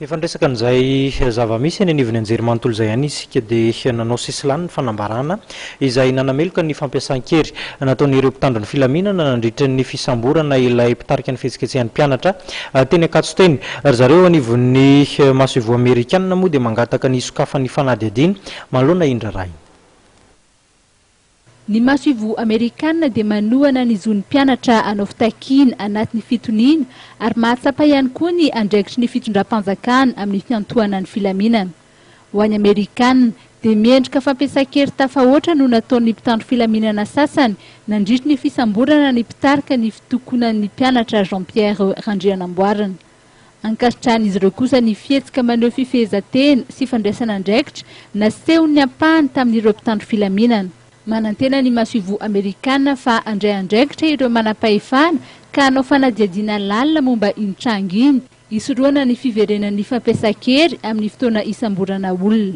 Efa niresaka an'izay zava-misy eny anivon'ny anjerimanontolo izay ihany isika dia nanao sisilany ny fanambarana izay nanameloka ny fampiasan-kery nataon'ireo mpitandro ny filaminana nandritra ny fisamborana ilay mpitarika ny fihetsiketsehan'ny mpianatra teny Ankatso teny. Ry zareo eo anivon'ny masoivoho amerikanina moa dia mangataka ny hisokafan'ny fanadihadiana manoloana iny raharaha iny. Ny masoivoho Amerikana dia manohana ny zon'ny mpianatra hanao fitakiana anatin'ny fitoniana ary mahatsapa ihany koa ny andraikitry ny fitondram-panjakana amin'ny fiantohanan'ny filaminana. Ho an'i Amerikana, dia miendrika fampiasan-kery tafahoatra no nataon'ny mpitandro filaminana sasany nandritry ny fisamborana ny mpitarika ny fitokonan'ny mpianatra Jean Pierre Randrianamboarina. Ankasitrahan'izy ireo kosa ny fihetsika maneho fifehezan-tena sy fandraisana andraikitra nasehon'ny ampahany tamin'ireo mpitandro filaminana. Manantena ny masoivoho Amerikana fa handray andraikitra ireo manam-pahefana ka hanao fanadihadiana lalina momba iny tranga iny, hisorohana ny fiverenan'ny fampiasan-kery amin'ny fotoana hisamborana olona.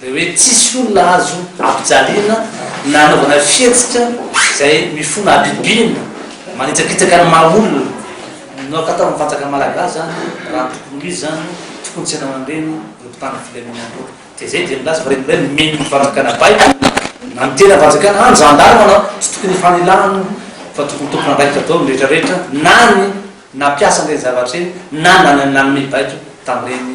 Dia hoe tsisy olona azo ampijaliana na anaovana fihetsika izay mifona habibiana, manitsakitsaka ny maha olona. No atao amin'ny fanjakana malagasy izany, raha tokony ho izy izany, tokony tsy hanao an'ireny ny mpitandro ny filaminana ireny. Dia izay dia milaza fa ireny indray no mino ny fanjakana baiko, na ny tena fanjakana, na ny zandary manao, tsy tokony hifanilahana fa tokony tompon'andraikitra daholo ny rehetra rehetra na ny nampiasa an'ireny zavatra ireny na nanome baiko tamin'ireny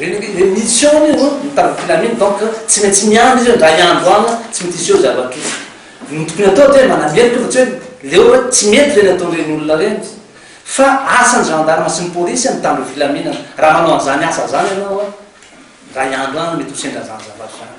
Reny ve reny mitsy eo anie no mitandro filamina donc tsy maintsy miandry izy ndray andro any tsy mety hiseho zavatra ouf ny tokony atao dia manameloka fa tsy hoe leo hoe tsy mety reny ataon'ireny olona reny fa asan'ny gendarme sy ny police mitandro filaminana raha manao an'izany asa zany ianao an ndray andro any mety ho sendra zany zavatra zany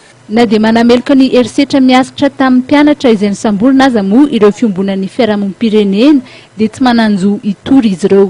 Na dia manameloka ny herisetra miaritra tamin'ny mpianatra izay nosamborina aza moa ireo fiombonan'ny fiarahamonim-pirenena dia tsy manan-jo hitory izy ireo.